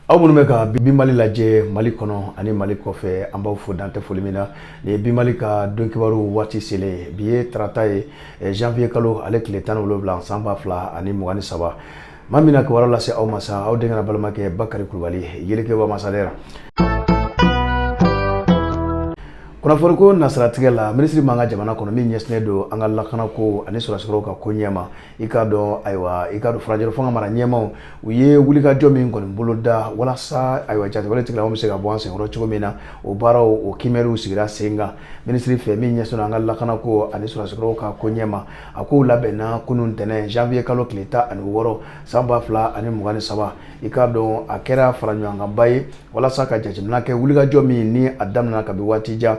aw minnu bɛ ka bi mali lajɛ mali kɔnɔ ani mali kɔfɛ an b'aw fo dan tɛ foli min na nin ye bi mali ka don kibaru waati selen bi ye tarata ye eh, janvier kalo ale tile tan ni wolonwula san ba fila ani mugan ni saba maa min na kibaru lase aw ma sa aw denkɛ n'aw balimakɛ bakari kulubali yelekeba masalera kunnafoniko nasiratigɛ la minisiri min b'an ka jamana kɔnɔ min ɲɛsinnen don an ka lakanako ani sɔrɔdasikɔrɔw ka koɲɛ ma i k'a dɔn ayiwa i k'a dɔn furancɛla fanga mara ɲɛmaaw u ye wulikajɔ min kɔni bolo da walasa ayiwa jatigɛwale tigilamaaw bɛ se ka bɔ an senkɔrɔ cogo min na o baaraw o kiimɛliw sigira sen kan minisiri fɛ min ɲɛsinna an ka lakanako ani sɔrɔdasikɔrɔw ka koɲɛ ma a ko labɛnna kunun ntɛnɛn janvier kalo tile tan ani wɔɔrɔ san ba fila ani mugan ni saba i k'a dɔn a kɛra faraɲɔgɔnkanba ye walasa ka jateminɛ kɛ wulikajɔ min ni a daminɛna kabi waati jan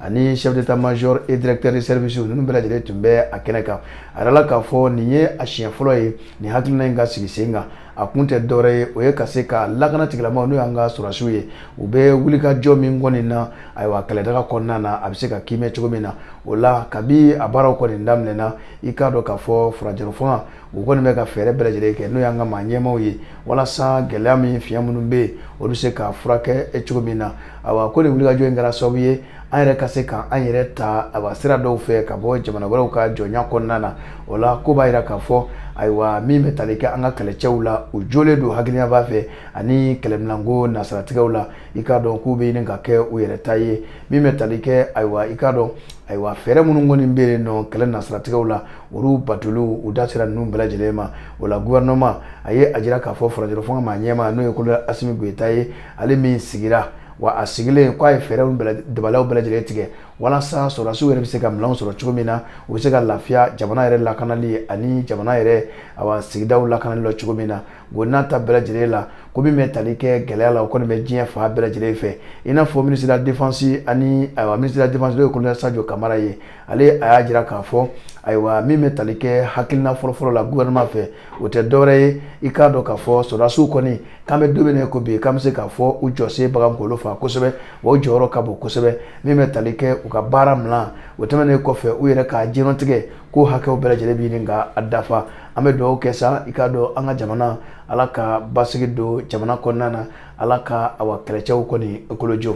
ani chef d'état major et directeur de service ninnu bɛɛ lajɛlen tun bɛ a kɛnɛ kan a yɛrɛ la k'a fɔ nin ye a siɲɛ fɔlɔ ye nin hakilina in ka sigi sen kan a kun tɛ dɔwɛrɛ ye o ye ka se ka lakana tigilamaaw n'o y'an ka sɔrɔdasiw ye u bɛ wulikajɔ min kɔni na ayiwa kɛlɛdaga kɔnɔna na a bɛ se ka kiimɛ cogo min na o la kabi a baaraw kɔni daminɛna i k'a dɔn k'a fɔ furancɛlafanga u kɔni bɛ ka fɛɛrɛ bɛɛ lajɛlen kɛ n'o y'an ka maa ɲɛmaaw ye walasa gɛlɛya min fiɲɛ minnu bɛ yen olu bɛ se ka furakɛ e cogo min na ayiwa ko nin wulikajɔ in kɛra sababu ye an yɛrɛ ka se k'an yɛrɛ ta a sira dɔw fɛ ka bɔ jamana wɛrɛw ka jɔnya kɔnɔna na o la k'o b'a jira k'a fɔ ayiwa min bɛ tali kɛ an ka kɛlɛcɛw la u jɔlen don hakilinaba fɛ ani kɛlɛminanko nasaratigɛw la i k'a dɔn k'u bɛ ɲini ka kɛ u yɛrɛ ta ye min bɛ tali kɛ ayiwa i k'a dɔn ayiwa fɛɛrɛ minnu kɔni bɛ yen nɔ kɛlɛ nasaratigɛw la olu batoliw u da sera ninnu bɛɛ lajɛlen ma o la gouvernement a ye a jira k'a fɔ furancɛla fanga maa ɲɛmaa n'o ye colonel asimi goyita ye ale min sigira wa a sigilen k'a ye fɛɛrɛw dabaliw bɛɛ lajɛlen tigɛ walasa sɔrɔdasiw yɛrɛ bɛ se ka minɛnw sɔrɔ cogo min na u bɛ se ka lafiya jamana yɛrɛ lakanali ani jamana yɛrɛ awa sigidaw lakanali la cogo min na o n'a ta bɛɛ lajɛlen la ko min bɛ tali kɛ gɛlɛya la o kɔni bɛ diɲɛ fan bɛɛ lajɛlen fɛ i n'a fɔ minisiri de la défense ani awa minisiri de la défense n'o ye colonel Sajo Kamara ye ale a y'a jira k'a fɔ ayiwa min bɛ tali kɛ hakilina fɔlɔfɔlɔ la gouvernement fɛ o tɛ dɔwɛrɛ ye i k'a dɔn k'a fɔ sɔrɔdasiw kɔni k'an bɛ don min na ko bi k'an bɛ se k'a fɔ u jɔsen bagan kolo fa kosɛbɛ wa u jɔyɔrɔ ka bon kosɛbɛ min bɛ tali kɛ u ka baara min na o tɛmɛnen kɔfɛ u yɛrɛ ka diɲɛlatigɛ ko hakɛw bɛɛ lajɛlen bɛ ɲini ka a dafa an bɛ dugawu kɛ sa i k'a dɔn an ka jamana ala ka basigi don jamana kɔnɔna na ala ka aw kɛlɛcɛw kɔni kolojɔ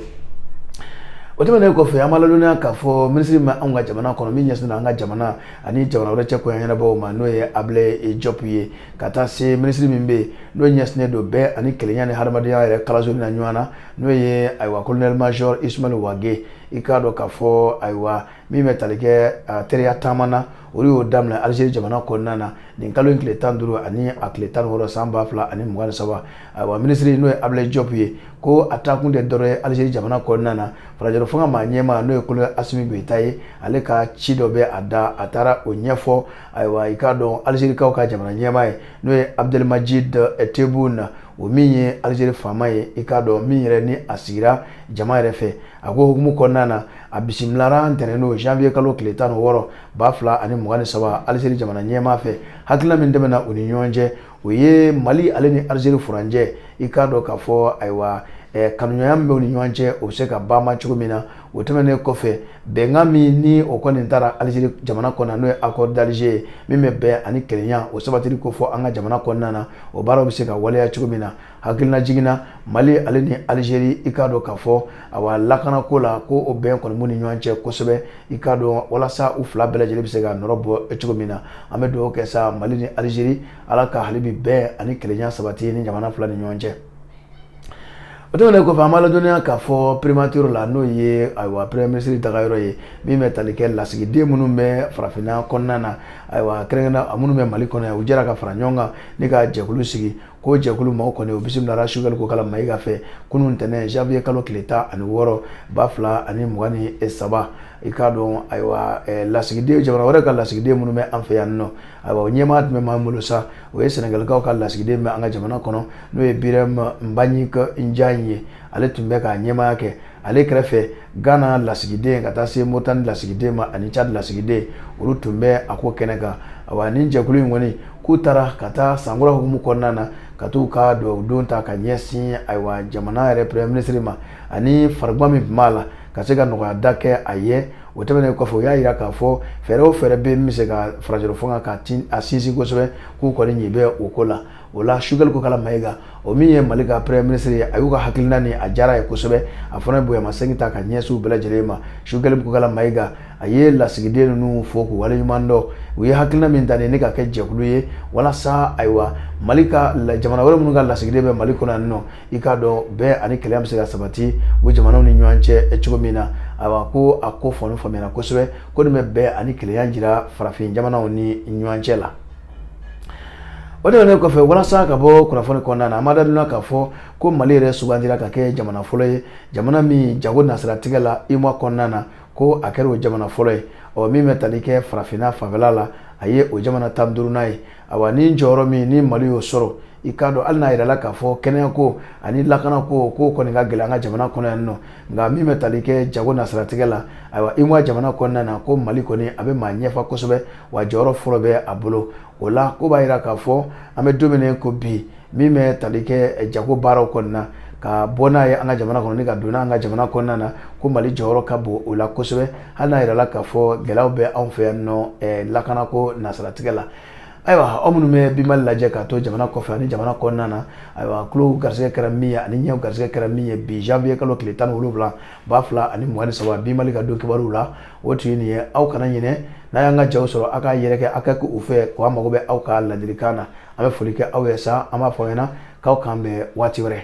o tɛmɛnen kɔfɛ an b'a ladɔnniya k'a fɔ minisiri min bɛ an ka jamana kɔnɔ min ɲɛsinnen an ka jamana ani jamana wɛrɛ cɛ koɲɛ ɲɛnabɔ ma n'o ye abilaye jɔp ye ka taa se minisiri min bɛ n'o ɲɛsinnen don bɛn ani kelenya ni hadamadenya yɛrɛ kalansoli ɲɔgɔn na n'o ye ayiwa colonel major ismael wage i k'a dɔn k'a fɔ ayiwa min bɛ tali kɛ teriya taama na olu y'o daminɛ alizeri jamana kɔnɔna na nin kalo in tile tan duuru ani a tile tan wɔɔrɔ san ba fila ani mugan saba ayiwa minisiri n'o ye abulayi jɔp ye ko a taakun tɛ dɔwɛrɛ ye alizeri jamana kɔnɔna na furancɛla fanga maa ɲɛmaa n'o ye kolonɛli asimi goyita ye ale ka ci dɔ bɛ a da a taara o ɲɛfɔ ayiwa i k'a dɔn alizerikaw ka jamana ɲɛmaa ye n'o ye abudulimajidi tebuni o min ye alizeri faama ye i k'a dɔn min yɛrɛ ni a sigira jama yɛrɛ fɛ a ko hukumu kɔnɔna na A bisimilala ntɛnɛn don janvier kalo tile tan ni wɔɔrɔ ba fila ani mugan ni saba Algérie jamana ɲɛmaa fɛ hakilina min tɛmɛna u ni ɲɔgɔn cɛ o ye Mali ale ni Algérie furancɛ i k'a dɔn k'a fɔ ayiwa eh, kanuɲɔgɔnya min bɛ u ni ɲɔgɔn cɛ o bɛ se ka banma cogo min na o tɛmɛnen kɔfɛ bɛnkan min ni o kɔni tara Algérie jamana kɔnɔna n'o ye accord d'Alger ye min bɛ bɛn ani kelenya o sabatili ko fɔ an ka jamana kɔnɔna na o baaraw bɛ se ka waleya cogo min na hakilina jiginna mali ale ni alizeri i k'a dɔn k'a fɔ awa lakanako la ko o bɛn kɔni b'u ni ɲɔgɔn cɛ kosɛbɛ i k'a dɔn walasa u fila bɛɛ lajɛlen bɛ se ka nɔrɔ bɔ cogo min na an bɛ dugawu kɛ sa mali ni alizeri ala ka hali bi bɛn ani kelenya sabati nin jamana fila ni ɲɔgɔn cɛ o tɛmɛnen kɔfɛ an b'a ladɔnniya k'a fɔ primature la n'o ye ayiwa premier ministre dagayɔrɔ ye min bɛ tali kɛ lasigiden minnu bɛ farafinna kɔnɔna na ayiwa kɛrɛnkɛrɛnnenya minnu bɛ mali kɔnɔ yan u jɛra ka fara ɲɔgɔn kan ni ka jɛkulu sigi ko jɛkulu maaw kɔni o bisimilala sogɛli kokala mayiga fɛ kunun ntɛnɛn janvier kalo tile tan ani wɔɔrɔ ba fila ani mugan ni saba i k'a dɔn ayiwa eh, lasigiden jamana wɛrɛ ka lasigiden minnu bɛ an fɛ yan nɔ ayiwa o ɲɛmaaya tun bɛ maa min bolo sa o ye sɛnɛgalikaw ka lasigiden bɛ an ka jamana kɔnɔ n'o ye biram nbaɲik jaɲi ye ale tun bɛ k'a ɲɛmaaya kɛ ale kɛrɛfɛ gana lasigiden ka taa se moritani lasigiden ma ani cadi lasigiden olu tun bɛ a ko kɛnɛ kan awa nin jɛkulu in kɔni k'u taara ka taa sankura hukumu kɔnɔna na ka t'u ka dugawudon ta ka ɲɛsin ayiwa jamana yɛrɛ premier ministre ma ani farigan min tun b'a la ka se ka nɔgɔya da kɛ a ye o tɛmɛnen kɔfɛ u y'a jira k'a fɔ fɛɛrɛ o fɛɛrɛ bɛ min bɛ se ka furancɛla fanga ka a sinsin kosɛbɛ k'u kɔni ɲɛ bɛ o ko la o la sogɛli kokala mayiga o min ye mali ka premier ministre ye a y'u ka hakilina ni a diyara a ye kosɛbɛ a fana ye bonyamasegin ta ka ɲɛsin u bɛɛ lajɛlen ma sogɛli kokala mayiga a ye lasigiden ninnu fo k'u waleɲuman dɔn u ye hakilina min ta nin ye ka kɛ jɛkulu ye walasa ayiwa mali ka jamana wɛrɛ minnu ka lasigiden bɛ mali kɔnɔ yan nɔ i k'a dɔn bɛn ani kelenya bɛ se ka sabati o jamanaw ni ɲɔgɔn cɛ cogo min na ayiwa ko a ko kɔni faamuyara kosɛbɛ ko nin bɛ bɛn ani kelenya jira farafin jamanaw ni ɲɔgɔn cɛ la o tɛmɛnen kɔfɛ walasa ka bɔ kunnafoni kɔnɔna na an b'a ladɔnniya k'a fɔ ko mali yɛrɛ sugandira ka kɛ jamana fɔlɔ ye jamana min jago nasiratigɛ la UEMOA kɔnɔna na ko a kɛra o jamana fɔlɔ ye ɔ min bɛ tali kɛ farafinna fanfɛla la a ye o jamana tan duurunan ye ayiwa ni jɔyɔrɔ min ni mali y'o sɔrɔ i k'a dɔn hali n'a yirala k'a fɔ kɛnɛya ko ani lakana ko k'o kɔni ka gɛlɛn an ka jamana kɔnɔ yan nɔ nka min bɛ tali kɛ jago nasiratigɛ la ayiwa UEMOA jamana kɔnɔna na ko mali kɔni a bɛ maa ɲɛfa kosɛbɛ wa jɔyɔrɔ fɔlɔ bɛ a bolo o la ko b'a jira k'a fɔ an bɛ don min ko bi min bɛ tali kɛ jago baaraw kɔnɔna na ka bɔ n'a ye an ka jamana kɔnɔ ka don an ka jamana kɔnɔna na ko mali jɔyɔrɔ ka bon o la kosɛbɛ hali n'a jirala k'a fɔ gɛlɛya bɛ anw fɛ yan nɔ lakana ko nasiratigɛ la ayiwa aw minnu bɛ bi mali lajɛ k'a to jamana kɔfɛ ani jamana kɔnɔna na ayiwa tulo garisɛgɛ kɛra min ye ani ɲɛ garisɛgɛ kɛra min ye bi janviye kalo tile tan ni wolonwula ba fila ani mugan ni saba bi mali ka don kibaruw la o tun ye nin ye aw kana ɲinɛ n'a y'an ka jaw sɔrɔ aw k'a yɛrɛkɛ aw ka kɛ u fɛ ko an mago bɛ aw ka ladilikan na an bɛ foli kɛ aw ye sa an b'a fɔ aw ɲɛna k'aw k'an bɛn waati wɛrɛ